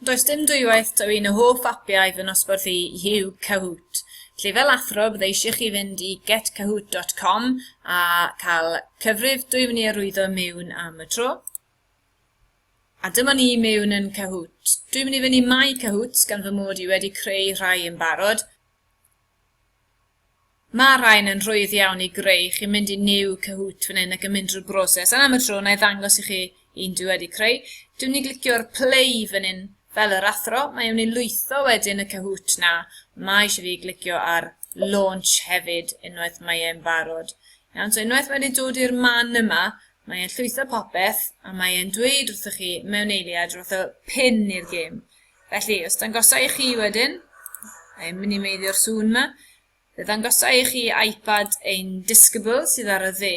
Does dim dwywaith taw un o hoff apiau fy nosbarth i yw Kahoot. Felly fel athro, bydde eisiau chi fynd i getkahoot.com a cael cyfrif dwy fyny arwyddo mewn am y tro. A dyma ni mewn yn Kahoot. Dwi'n mynd i fyny My Kahoots gan fy mod i wedi creu rhai yn barod. Mae'r rhain yn rhwydd iawn i greu, chi'n mynd i new Kahoot fan hyn ac yn mynd drwy'r broses, a am y tro na i ddangos i chi un dwi wedi creu. Dwi'n mynd i glicio'r play fan hyn fel yr athro, mae e'n mynd i lwytho wedyn y Kahoot na, mae eisiau fi glicio ar launch hefyd unwaith mae e'n barod. Iawn, so unwaith mae wedi dod i'r man yma, mae e'n llwytho popeth a mae e'n dweud wrthych chi mewn eiliad rhywbeth o pin i'r gêm. Felly, os dangosa i chi wedyn, I'm mynd i meiddio'r sŵn yma, fe ddangosa i chi iPad ein disgybl sydd ar y dde,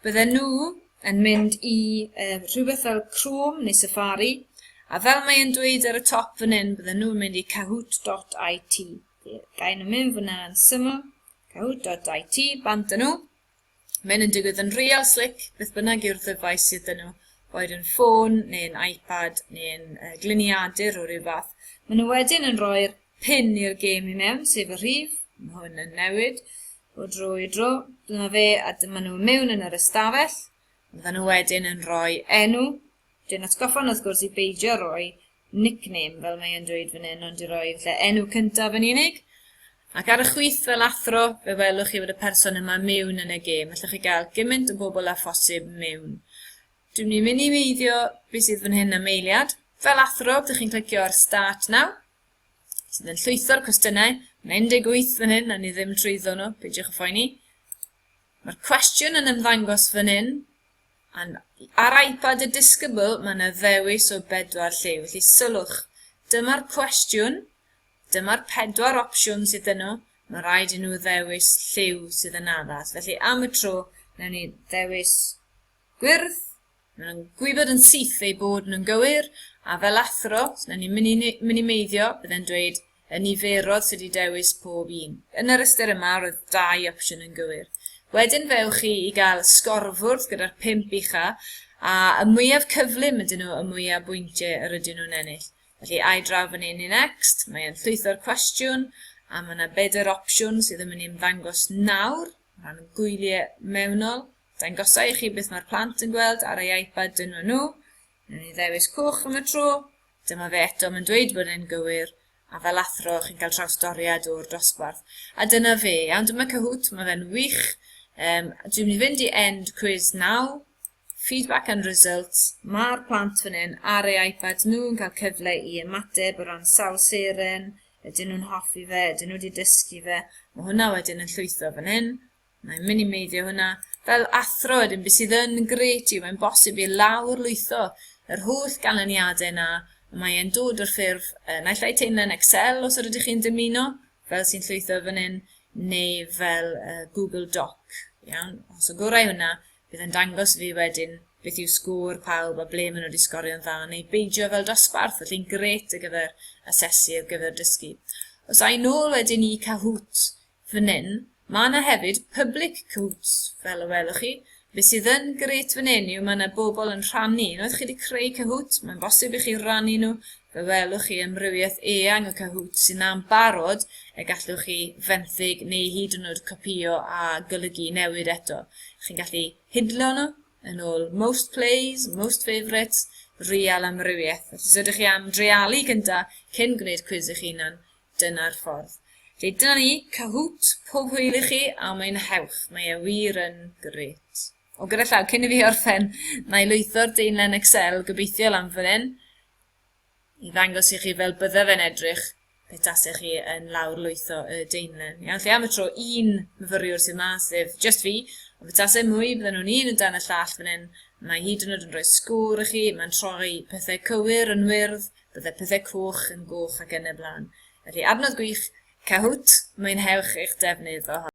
bydden nhw yn mynd i uh, rhywbeth fel Chrome neu Safari, a fel mae e'n dweud ar y top fan hyn, bydden nhw'n mynd i kahoot.it. Gael nhw mynd fyna yn syml, kahoot.it, bant nhw, Mae'n yn digwydd yn real slick, beth bynnag yw'r ddyfais sydd dyn nhw, boed yn ffôn neu'n iPad neu'n uh, gliniadur o ryw fath. Maen nhw wedyn yn rhoi'r pin i'r gêm i mewn, sef y rhif, mae hwn yn newid o dro i dro. Dyma fe a dyma nhw mewn yn yr ystafell. Maen nhw wedyn yn rhoi enw. Dwi'n atgoffa wrth gwrs i beidio rhoi nickname fel mae e'n dweud fan hyn, ond i roi falle enw cyntaf yn unig. Ac ar y chwith fel athro, fe welwch chi fod y person yma mewn yn y gêm. Allwch chi gael gymaint o bobl â phosib mewn. Dwi'n mynd i minimeiddio beth sydd fan hyn am eiliad. Fel athro, byddwch chi'n clicio ar Start Now, sydd yn llwytho'r cwestiynau. Mae 18 fan hyn, a ni ddim trwyddo nhw, peidiwch y phoeni. Mae'r cwestiwn yn ymddangos fan hyn, And ar iPad y disgybl mae yna ddewis o bedwar lle, felly sylwch, dyma'r cwestiwn, dyma'r pedwar opsiwn sydd yno, mae rhaid i nhw ddewis lliw sydd yn addas. Felly am y tro, newn ni ddewis gwyrdd, maen nhw'n gwybod yn syth eu bod nhw'n gywir, a fel athro, os newn ni minimeiddio, byddai'n dweud y niferodd sydd wedi dewis pob un. Yn yr ystyr yma, roedd dau opsiwn yn gywir. Wedyn fe ewch chi i gael y sgorfwrdd gyda'r pump ucha, a y mwyaf cyflym ydyn nhw y mwyaf bwyntiau yr ydyn nhw'n ennill. Felly, I draw fan hyn i Next, mae e'n llwytho'r cwestiwn, a mae yna bedair opsiwn sydd yn mynd i ymddangos nawr, o ran y gwyliau mewnol. Dangosa i chi beth mae'r plant yn gweld ar ei iPad dynwa nhw, Rwy'n ni ddewis coch am y tro. Dyma fe eto, mae'n dweud bod e'n gywir, a fel athro chi'n cael trawsdoriad o'r dosbarth. A dyna fe, iawn, dyma Cahoot, mae fe'n wych. Um, dwi'n mynd i fynd i end quiz now, feedback and results. Mae'r plant fan hyn ar ei iPads nhw yn cael cyfle i ymateb o ran sawl seren, ydyn nhw'n hoffi fe, ydyn nhw wedi dysgu fe. Mae hwnna wedyn yn llwytho fan hyn. Mae'n minimeiddio hwnna. Fel athro wedyn, beth sydd yn gret yw mae'n bosib i lawr lwytho yr holl ganlyniadau yna, y mae e'n dod o'r ffurf uh, naill ai teimlo'n Excel os ydych chi'n dymuno, fel sy'n llwytho fan hyn, neu fel uh, Google Doc. Iawn, os o gorau hwnna, bydd yn dangos fi wedyn beth yw sgôr pawb a ble maen nhw wedi sgorio'n dda, neu beidio fel dosbarth, felly'n gret ar gyfer asesu ar gyfer dysgu. Os a'i nôl wedyn i Kahoot, Fan hyn, mae 'na hefyd public quotes, fel y welwch chi. Be sydd yn grêt fan hyn yw mae 'na bobl yn rhannu. Unwaith chi wedi creu Kahoot, mae'n bosib i chi rannu nhw. Fe welwch chi amrywiaeth eang o Kahoot sy'n na'n barod y gallwch chi fenthyg neu hyd yn oed copïo a golygu newid eto. Chi'n gallu hidlo nhw yn ôl most plays, most favourites, real amrywiaeth. Felly os ydych chi am dreialu gyntaf cyn gwneud cwiz eich hunan, Dyna'r ffordd. Felly dyna ni, Kahoot, pob hwyl i chi a mwynhewch, mae e wir yn grêt. O, gyda llaw, cyn i fi orffen, na i lwytho'r deinlen Excel gobeithio lan fan hyn, i ddangos i chi fel bydde fe'n edrych pe tasech chi yn lawr lwytho y deinlen. Iawn, lle am y tro un myfyriwr sydd ma, sef just fi, ond fe tasau mwy, bydden nhw'n un yn dan y llall fan hyn, mae hyd yn oed yn rhoi sgwr i chi, mae'n troi pethau cywir yn wyrdd, Bydde pethau coch yn goch ac yn y blaen. Felly, adnodd gwych, Kahoot, mwynhewch eich defnydd ohono.